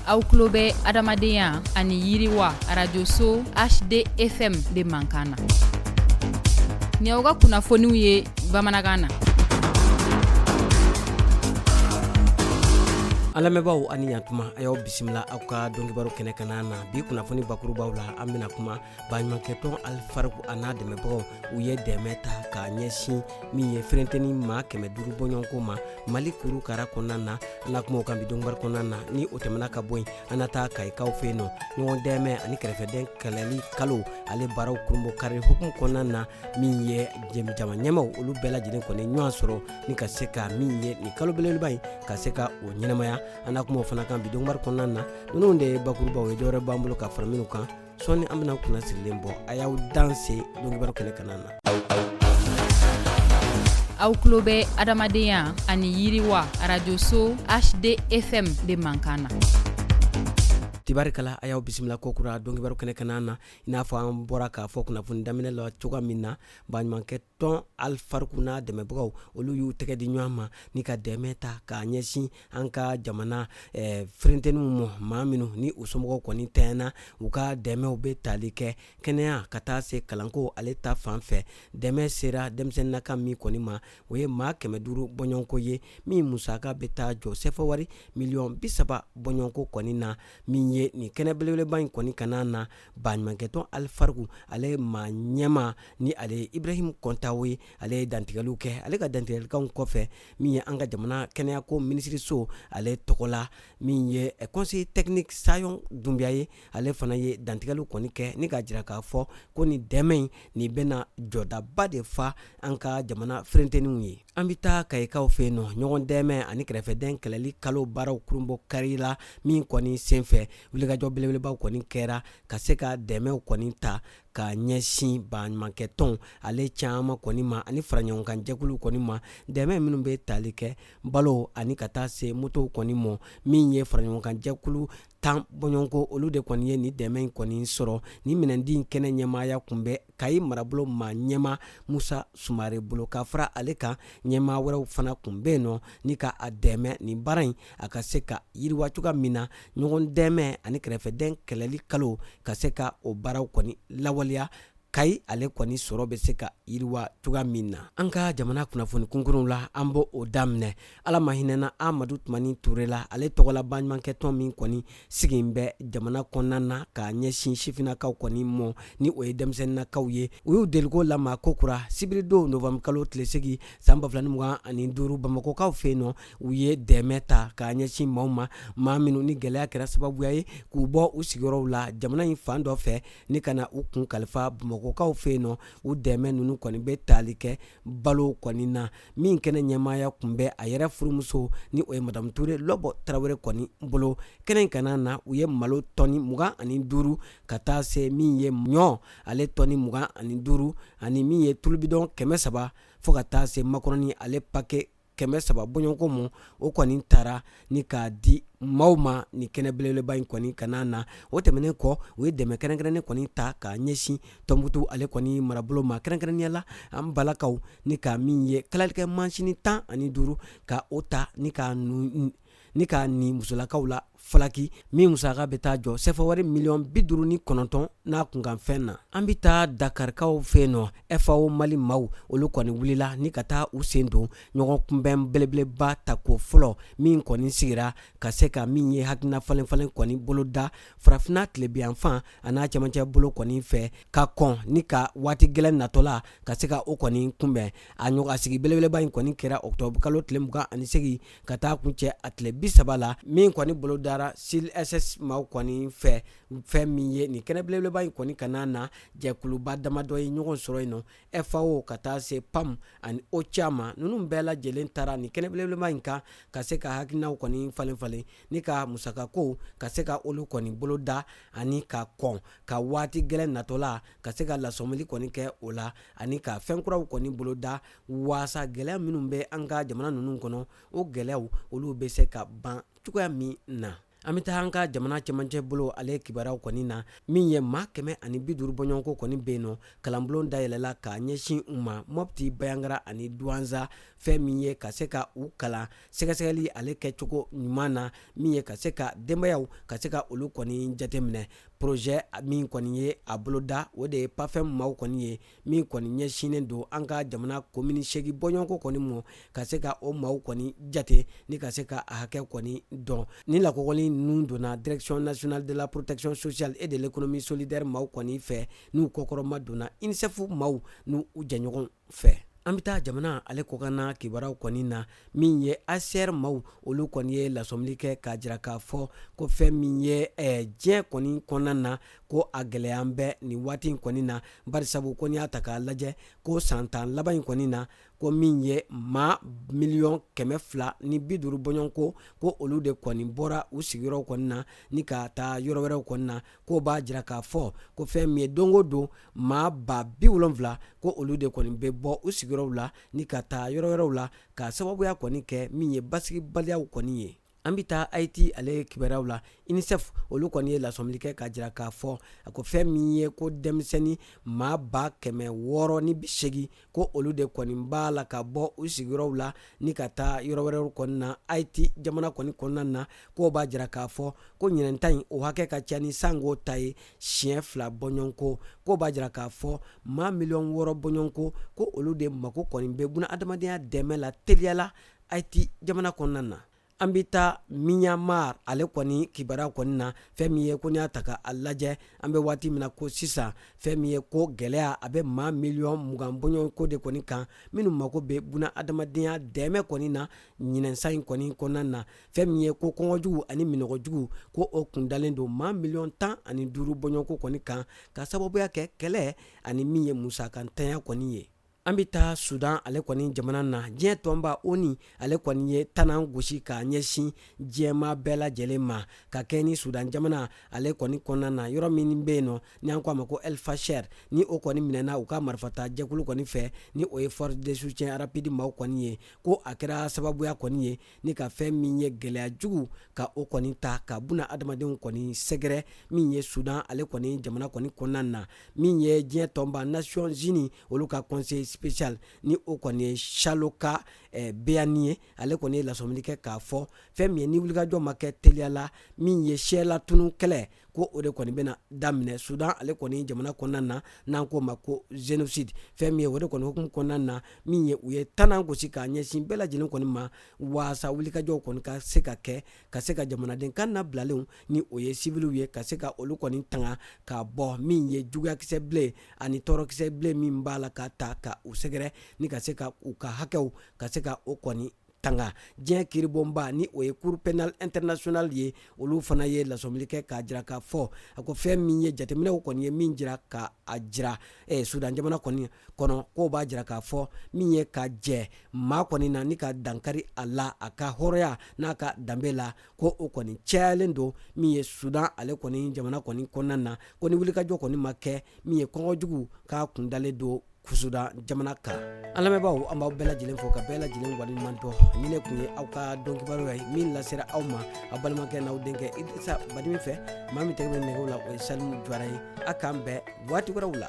aw tulo bɛ adamadenya ani yiriwa arajoso hdfm de mankan na ni aw ka kunnafoniw ye bamanankan na an lamɛnbaaw ani ɲatuma a y'aw bisimila aw ka donkibaru kɛnɛ kana na bi kunnafoni bakurubaw la an bɛna kuma baɲumankɛtɔn alifariku a n'a dɛmɛbagaw u ye dɛmɛ ta k'a ɲɛsin min ye ferenteni maa kɛmɛ duuru bɔɲɔgɔnko ma mali kuru kara kɔnɔna na an na kuma o kan bi donkibaru kɔnɔna na ni o tɛmɛna ka bɔ yen an na taa kayikaw fɛ yen nɔ ɲɔgɔn dɛmɛ ani kɛrɛfɛdɛn kɛlɛli kalo ale baaraw kurunbonkari hukumu kɔnɔna na min ye jama ɲɛmaaw olu bɛɛ lajɛlen kɔni ɲɔgɔn sɔrɔ ni ka se ka min ye nin kalo belebeleba in ka se ka o ɲɛnamaya an na kuma o fana kan bi donkibaru kɔnɔna na ninnu de ye bakurubaw ye dɔwɛrɛ b'an bolo ka fara minnu kan sɔɔni an bɛna kunna sirilen bɔ a y'aw danse donkibaru kɛnɛ kana na aw tulo bɛ adamadenya ani yiriwa arajoso hdfm de mankan na tibarikala a y'aw bisimila kokura donkibaru kɛnɛ kana na i n'a fɔ an bɔra k'a fɔ kunnafoni daminɛ la cogoya min na baɲumankɛ tɔn alifariku n'a dɛmɛbagaw olu y'u tɛgɛ di ɲɔgɔn ma ni ka dɛmɛ ta k'a ɲɛsin an ka jamana eh, ferenteniw ma maa minnu ni u somɔgɔw kɔni tɛɲɛna u ka dɛmɛw bɛ tali kɛ kɛnɛya ka taa se kalanko ale ta fan fɛ dɛmɛ sera denmisɛnnin hakɛ min kɔni ma o ye maa kɛmɛ duuru bɔɲɔgɔnko ye min musaka bɛ taa jɔ sɛfɛwari miliyɔn bisaba bɔɲɔgɔnko kɔni na min ye nin kɛnɛ belebeleba in kɔni kana na baɲumankɛtɔn alifariku ale maa ɲɛma ni ale ye ibrahim kɔntawo ye ale ye dantigɛliw kɛ ale ka dantigɛlikanw kɔfɛ min ye an ka jamana kɛnɛyako minisiriso ale tɔgɔ la min ye eh, conseiller technique sayon dunbiya ye ale fana ye dantigɛliw kɔni kɛ ni k'a jira k'a fɔ ko ni dɛmɛ in nin bɛna jɔdaba de fa an ka jamana ferenteniw ye an bɛ taa kayikaw fɛ yen nɔ ɲɔgɔn dɛmɛ ani kɛrɛfɛdɛn kɛlɛli kalo baaraw kurunbonkarila min kɔni senfɛ wulikajɔ belebelebaw kɔni kɛra ka se ka dɛmɛw kɔni ta ka ɲɛsin baɲumankɛtɔn ale caman kɔni ma ani faraɲɔgɔnkan jɛkulu kɔni ma dɛmɛ minnu bɛ tali kɛ balo ani ka taa se motow kɔni mɔ min ye faraɲɔgɔnkan jɛkulu tan bɔɲɔgɔnko olu de kɔni ye nin dɛmɛ in kɔni sɔrɔ nin minɛndi in kɛnɛ ɲɛmaaya kun bɛ kayi marabolo maa ɲɛma musa sumare bolo ka fara ale kan ɲɛmaa wɛrɛw fana kun bɛ yen nɔ ni ka a dɛmɛ nin baara in a ka se ka yiriwa cogoya min na ɲɔgɔn dɛmɛ ani kɛrɛfɛdɛn kɛlɛli kalo ka se ka o baaraw kɔni lawaleya kayi ale kɔni sɔrɔ bɛ se ka yiriwa cogoya min na an ka jamana kunnafoni kunkurunw la an b'o daminɛ ala ma hinɛna amadu tumani ture la ale tɔgɔla baɲumankɛtɔn min kɔni sigilen bɛ jamana kɔnɔna na k'a ɲɛsin sifinnakaw kɔni mɔ ni o ye denmisɛnninakaw ye u y'u deliko lama kokura sibiridon novembre kalo tile segin san ba fila ni mugan ani duuru bamakɔkaw fɛ yen nɔ u ye dɛmɛ ta k'a ɲɛsin maaw ma maa minnu ni gɛlɛya kɛra sababuya ye k'u bɔ u sigiyɔrɔw la jamana in fan dɔ fɛ ni ka na u kun kalifa bamakɔkaw fɛ yen nɔ u dɛmɛ ninnu kɔni bɛ tali kɛ balo kɔni na min kɛnɛ ɲɛmaaya kun bɛ a yɛrɛ furumuso ni o ye madamu ture lɔbɔ tarawele kɔni bolo kɛnɛ in kanna na u ye malo tɔni mugan ani duuru ka taa se min ye ɲɔ ale tɔni mugan ani duuru ani min ye tulu bidɔn kɛmɛ saba fo ka taa se makɔrɔni ale pake kɛmɛ saba bɔɲɔgɔnko mɔ o kɔni tara ni k'a di maaw ma nin kɛnɛ belebeleba in kɔni kanna na o tɛmɛnen kɔ u ye dɛmɛ kɛrɛnkɛrɛnnen kɔni ta k'a ɲɛsin tɔnbutu ale kɔni marabolo ma kɛrɛnkɛrɛnnenya la an balakaw ni ka min ye kalalikɛ mansini tan ani duuru ka o ta ni ka ni k'a ni musolakaw la falaki min musaka bɛ taa jɔ sɛfawari miliyɔn bi duuru ni kɔnɔntɔn n'a kunkanfɛn na an bɛ taa dakarikaw fɛ yen nɔ fao mali maaw olu kɔni wulila ni ka taa u sen don ɲɔgɔnkunbɛn belebeleba tako fɔlɔ min kɔni sigira ka se ka min ye hakilina falenfalen kɔni boloda farafinna tilebinyanfan a n'a cɛmancɛ bolo kɔni fɛ ka kɔn ni ka waati gɛlɛn natɔla ka se ka o kɔni kunbɛn ɲɔgɔnnasigi belebeleba in kɔni kɛra octobre kalo tile mugan ani segin ka taa kuncɛ a tile bi saba la min kɔni bolodara cilss maaw kɔni fɛ fɛn min ye nin kɛnɛ belebeleba in kɔni kanna na jɛkuluba damadɔ ye ɲɔgɔn sɔrɔ yen nɔ fao ka taa se pam ani ocha maa ninnu bɛɛ lajɛlen taara nin kɛnɛ belebeleba in kan ka se ka hakilinaw kɔni falenfalen ni ka musakakow ka se ka olu kɔni boloda ani ka kɔn ka waati gɛlɛn natɔla ka se ka lasɔmili kɔni kɛ o la ani ka fɛn kuraw kɔni boloda waasa gɛlɛya minnu bɛ an ka jamana ninnu kɔnɔ o gɛlɛyaw olu bɛ se ka ban cogoya min na an bɛ taa an ka jamana cɛmancɛ bolo ale kibaruyaw kɔni na min ye maa kɛmɛ ani bi duuru bɔɲɔgɔnko kɔni bɛ yen nɔ kalanbulon dayɛlɛla k'a ɲɛsin u ma mɔpti bayangara ani duwanza fɛn min ye ka se ka u kalan sɛgɛsɛgɛli ale kɛcogo ɲuman na min ye ka se ka denbayaw ka se ka olu kɔni jateminɛ projet min kɔni ye a boloda o de ye pafɛm maaw kɔni ye min kɔni ɲɛsinnen don an ka jamana komini segin bɔɲɔgɔnko kɔni mɔ ka se ka o maaw kɔni jate ni ka se ka a hakɛ kɔni dɔn ni lakɔgɔli ninnu donna direction nationale de la protection sociale et de l'économie solidaire maaw kɔni fɛ n'u kɔkɔrɔmadonna unicef maaw n'u jɛɲɔgɔn fɛ an bɛ taa jamana ale kɔkanna kibaraw kɔni na min ye hcr maaw olu kɔni ye lasɔmili kɛ k'a jira k'a fɔ ko fɛn min ye eh, diɲɛ kɔni kɔnɔna na ko a gɛlɛya bɛ nin waati in kɔni na barisabu ko n'i y'a ta k'a lajɛ ko san tan laban in kɔni na ko min ye maa miliyɔn kɛmɛ fila ni bi duuru bɔɲɔgɔnko ko olu de kɔni bɔra u sigiyɔrɔw kɔni na ni ka taa yɔrɔ wɛrɛw kɔni na k'o b'a jira k'a fɔ ko fɛn min ye don o don maa ba bi wolonfila ko olu de kɔni bɛ bɔ u sigiyɔrɔw la ni ka taa yɔrɔ wɛrɛw la ka sababuya kɔni kɛ min ye basigibaliyaw kɔni ye An bɛ taa Ayiti ale kibaruyaw la UNICEF olu kɔni ye lasɔmili kɛ k'a jira k'a fɔ a ko fɛn min ye ko denmisɛnnin maa ba kɛmɛ wɔɔrɔ ni bi seegin ko olu de kɔni b'a la ka bɔ u sigiyɔrɔw la ni ka taa yɔrɔ wɛrɛw kɔni na Ayiti jamana kɔni kɔnɔna na k'o b'a jira k'a fɔ ko ɲinɛn ta in o hakɛ ka ca ni sango ta ye siɲɛ fila bɔɲɔgɔnko k'o b'a jira k'a fɔ maa miliyɔn wɔɔrɔ bɔɲɔgɔnko ko olu de mako kɔni bɛ buna adamadenya dɛmɛ la teliya la ayiti jamana kɔnɔna na an bɛ taa myanmar ale kɔni kibaruya kɔni na fɛn min ye ko n'i y'a ta ka a lajɛ an bɛ waati min na ko sisan fɛn min ye ko gɛlɛya a bɛ maa miliyɔn mugan bɔɲɔgɔnko de kɔni kan minnu mago bɛ buna adamadenya dɛmɛ kɔni na ɲinɛn san in kɔni kɔnɔna na fɛn min ye ko kɔngɔjugu ani minɔgɔjugu ko o kundalen don maa miliyɔn tan ani duuru bɔɲɔgɔnko kɔni kan ka sababuya kɛ kɛlɛ ani min ye musakantanya kɔni ye an bɛ taa sudan ale kɔni jamana na diɲɛ tɔnba onu ale kɔni ye tanan gosi k'a ɲɛsin diɲɛmaa bɛɛ lajɛlen ma ka kɛɲɛ ni sudan jamana ale kɔni kɔnɔna na yɔrɔ min bɛ yen nɔ ni an ko a ma ko el fasher ni o kɔni minɛna u ka marifata jɛkulu kɔni fɛ ni o ye force de soutien rapide maaw kɔni ye ko a kɛra sababuya kɔni ye ni ka fɛn min ye gɛlɛya jugu ka o kɔni ta ka buna adamadenw kɔni sɛgɛrɛ min ye sudan ale kɔni jamana kɔni kɔnɔna na min ye diɲɛ tɔnba nations unies olu ka conseil spécial ni o kɔni ye chaloka eh, beyani ye ale kɔni ye lasɔmili kɛ k'a fɔ fɛn min ye ni wulikajɔ ma kɛ teliya la min ye siyalatunu kɛlɛ ko o de kɔni bɛna daminɛ sudan ale kɔni jamana kɔnɔna na n'an k'o ma ko génocide fɛn min ye o de kɔni hukumu kɔnɔna na min ye u ye tanan gosi k'a ɲɛsin bɛɛ lajɛlen kɔni ma waasa wulikajɔw kɔni ka se ka kɛ ka se ka jamanaden kannabilalenw ni o ye siviliw ye ka se ka olu kɔni tanga ka bɔ min ye juguyakisɛ bilen ani tɔɔrɔkisɛ bilen min b'a la ka ta ka u sɛgɛrɛ ni ka se ka u ka hakɛw ka se ka o kɔni tanga diɲɛ kiribonba ni o ye cour pénale internationale ye olu fana ye lasɔmili kɛ k'a jira k'a fɔ a ko fɛn min ye jateminɛw kɔni ye min jira ka a jira eh, sudan jamana kɔni kɔnɔ k'o b'a jira k'a fɔ min ye ka jɛ maa kɔni na ni ka dankari a la a ka hɔrɔnya n'a ka danbe la ko o kɔni cayalen don min ye sudan ale kɔni jamana kɔni kɔnɔna na ko ni wulikajɔ kɔni ma kɛ min ye kɔngɔ jugu k'a kundalen don sudan jamana kan an lamɛnbaaw an b'aw bɛɛ lajɛlen fo ka bɛɛ lajɛlen waleɲumandɔn nin tun ye aw ka don kibaru ye min lasera aw ma aw balimakɛ n'aw denkɛ idirisa batili fɛ maa min tɛgɛ bɛ nɛgɛw la o ye salimu jawara ye a k'an bɛn waati wɛrɛw la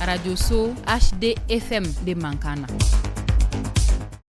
arajso hdfm de mankan na